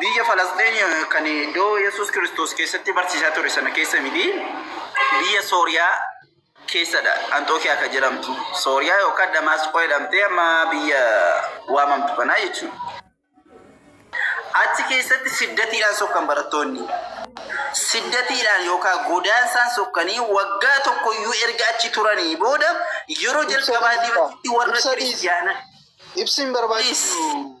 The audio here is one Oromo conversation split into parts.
Biyya Falasxiin kan iddoo Yesuus Kiristoos keessatti barsiisaa ture sana keessa miti. Biyya Sooriyaa keessadha. Anxookiyaa kan jedhamtu. Sooriyaa yookaan Damaasqoo jedhamtee amma biyya waamamtu kanaa jechuudha. Achi keessatti siddatiidhaan sokkan barattoonni. Siddatiidhaan yookaan godaansaan sokkanii waggaa tokko iyyuu erga achi turanii booda yeroo jalqabaatiif warra Kiristiyaana. Ibsiin barbaachisu.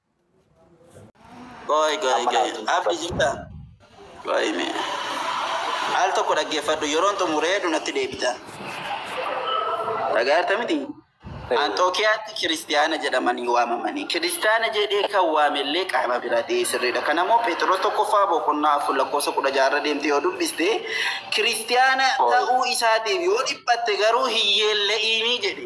Qoy qoy Amma qoy. laaltu hin Abdi dhaggeeffadhu. jirta? Qoy me. Al tokko dhaggeeffadhu yeroon xumuree jedhu natti deebita. Dhagaarta miti? Ee. Anxookiyaatti kiristiyaana jedhamanii waamamanii. Kiristiyaana jedhee kan waamellee qaama biraa ta'ee sirriidha. Kana immoo Pheexiroos tokkoffaa boqonnaa afur lakkoofsa kudha ja'a irra deemtee yoo dubbiste kiristiyaana Qoy. ta'uu isaatiif yoo dhiphatte garuu hin yeella'iinii jedhe.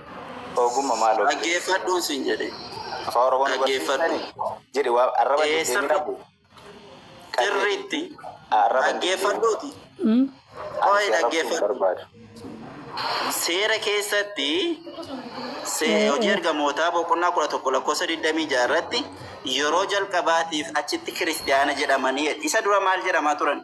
Ogumma maaloo fide. Dhaggeeffadhuun sin jedhe. Afaan Oromoo nu Dhaggeeffadhu. barsiistani? Jedhi waa arraba hin Eessa deeminaa. qabu? Sirriitti. Arraba hin deemin. Dhaggeeffadhuuti. Hmm? Ani Qo'ee si arrabsuu hin dhaggeeffadhu. barbaadu. Seera keessatti se- Eh, hojii eh. ergamootaa boqonnaa kudha tokko lakkoofsa digdamii ja'a irratti yeroo jalqabaatiif achitti kiristiyaana jedhamanii isa dura maal jedhamaa turan?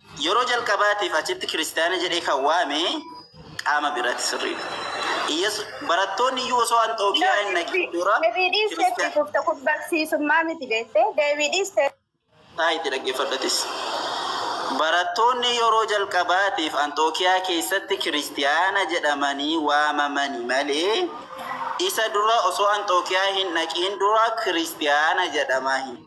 Yeroo jalqabaatiif achitti Kiristiyaana jedhee kan waame qaama biraati sirriidha. Iyyesu, barattoonni iyyuu osoo Anxookiyaa hin dhaqin dura Deebii dhiiste itti Kiristiyaana. fufte kun barsiisummaa miti beekte deebii dhiiste. Taa itti dhaggeeffadhatis. Barattoonni yeroo jalqabaatiif Anxookiyaa keessatti Kiristiyaana jedhamanii waamamani malee isa dura osoo Anxookiyaa hin dhaqin dura Kiristiyaana jedhamaa hin.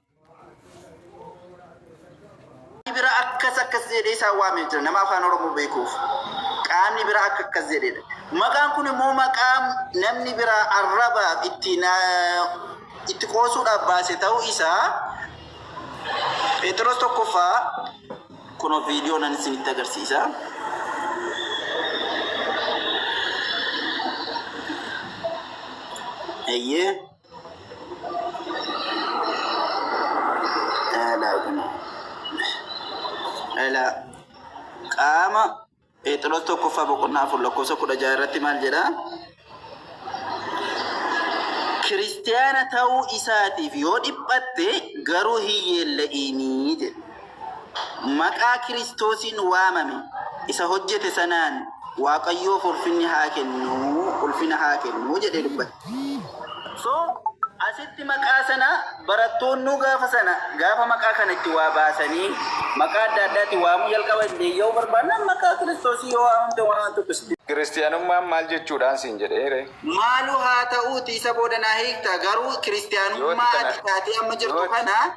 bira akkas akkas jedhee isaan waamee jira nama afaan oromoo beekuuf qaamni biraa akka akkas jedhedha maqaan kun immoo maqaa namni biraa arrabaaf itti na- itti qoosuudhaaf baase ta'uu isaa Pheexiroos tokkoffaa kun viidiyoo nan isinitti agarsiisa. Eeyyee. Dhala. Qaama Pheexiroos tokkoffaa boqonnaa afur lakkoofsa kudha jaha irratti maal jedha? Kiristiyaana ta'uu isaatiif yoo dhiphatte garuu hin yeella'iinii jedha. Maqaa Kiristoosiin waamame isa hojjete sanaan Waaqayyoof ulfinni haa kennu, ulfina haa kennu jedhee dubbate. So, asitti maqaa sana barattoonnuu gaafa sana gaafa maqaa kana itti waa baasanii maqaa adda addaatiin waamuu jalqaba hin deeyya'uu barbaannaan maqaa Kiristoosiin yoo waamamte waan tokko sitti hin Kiristiyaanummaan maal jechuudhaan siin jedhee ree? Maalu haa ta'uutii isa booda naa hiikta, garuu Yooti Kiristiyaanummaa kana ati taatee amma jirtu yooti kana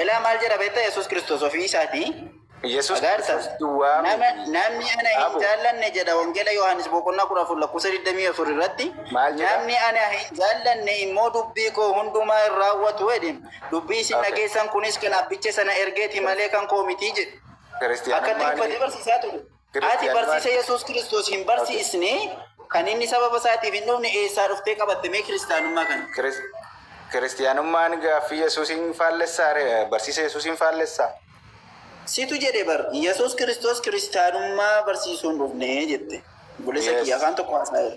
Ilaa maal jedha beektaa Yesuus Kiristoos ofii isaatii? Yesuus Agaarta. Kiristoos duwwaa Nama, miti. namni ana hin Abu. jaallanne jedha Wangeela Yohaannis boqonnaa kudha afur lakkoofsa 24 irratti. Maal jedha? Namni ana hin jaallanne immoo dubbii koo hundumaa hin raawwatu jedhe. Dubbii isin Okay. dhageessan kunis kan abbicha sana ergeeti malee kan koo miti jedhe. Akkatti Kiristiyaanummaan dubbatee barsiisaa ture. Ati barsiisa Yesuus Kiristoos hin barsiisne kan inni sababa isaatiif hin dhufne eessaa dhuftee qabatte mee kiristaanummaa kana? Kiristiyaanummaan gaaffii Yesuusiin faallessaa barsiisa Yesuusiin faallessaa? Situ jedhe bar Yesuus Kiristoos kiristaanummaa barsiisuun dhufne jette. Bulessa kiyya afaan tokko haasa'eera.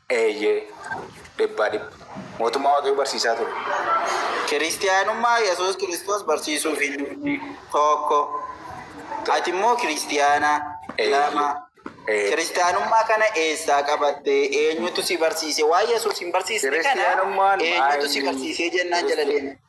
Eeyyee, dhibbaa dhibba. Mootummaa Waaqayyoo barsiisaa ture. Kiristiyaanummaa Yesuus Kiristoos barsiisuuf hin dhufne, 1. Ati immoo Kiristiyaana, 2. Eeyyee. Kiristiyaanummaa kana eessaa qabatte? Eenyutu si barsiise? Waan Yesuus hin barsiisne kana Kiristiyaanummaan eenyutu si maayini? barsiisee jennaan jala deeme. Kiristi-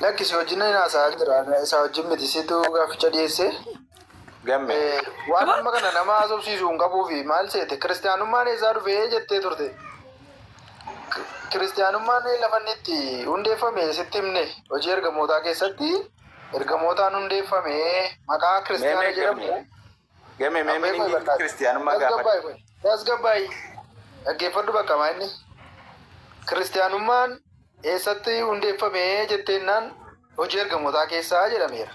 Lakki si wajjin hin haasa'aa jira. Ana Isaa wajjin miti situ gaaficha dhiyeesse. Gamme. Eh, Waan amma kana nama haasofsiisu hin qabuu fi maal seete kiristaanummaan eessaa dhufe jettee turte. K- Kiristaanummaan lafa inni itti hundeeffame sitti himne hojii ergamootaa keessatti ergamootaan hundeeffame maqaa Mee kiristaana mee jedhamu gamme. Game mee Abbee koo miningi barbaade. kiristiyaanummaa gaafadha. Tasgabbaa'e kun. Tasgabbaa'e. Dhaggeeffadhu bakka maa inni. Kiristiyaanummaan eessatti hundeeffame jetteennaan hojii ergamootaa keessaa jedhameera.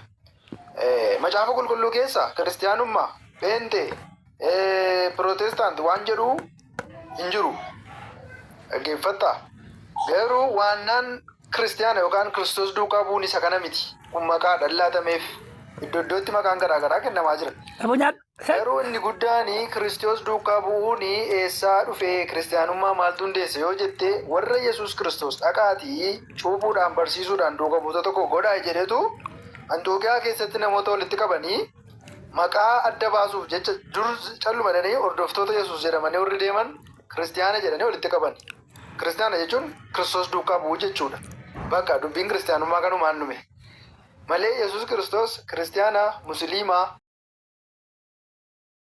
Eh, Macaafa qulqulluu keessa kiristiyaanummaa, pheenxee, eh, pirootestaant waan jedhu hin jiru. Dhaggeeffattaa? Garuu waannaan kiristiyaana yookaan Kiristoos duukaa bu'uun isa kana miti. Kun maqaadha laatameef. Iddo iddootti maqaan garaa garaa kennamaa jira. Dhaboo nyaadhu. Hey! Garuu inni guddaan Kiristoos duukaa bu'uun eessaa dhufe, kiristiyaanummaa maaltu hundeesse yoo jette, warra Yesuus Kiristoos dhaqaatii cuuphuudhaan, barsiisuudhaan duuka buutota koo godhaa jedhetu Anxookiyaa keessatti namoota walitti qabanii, Maqaa adda baasuuf jecha dur calluma jedhanii hordoftoota Yesuus jedhamanii warri deeman Kiristiyaana jedhanii walitti qabani. Kiristiyaana jechuun Kiristoos duukaa bu'uu jechuudha. Baqa dubbiin Kiristiyaanummaa kanumaan dhume. Malee Yesuus Kiristoos Kiristiyaana, Musiliima.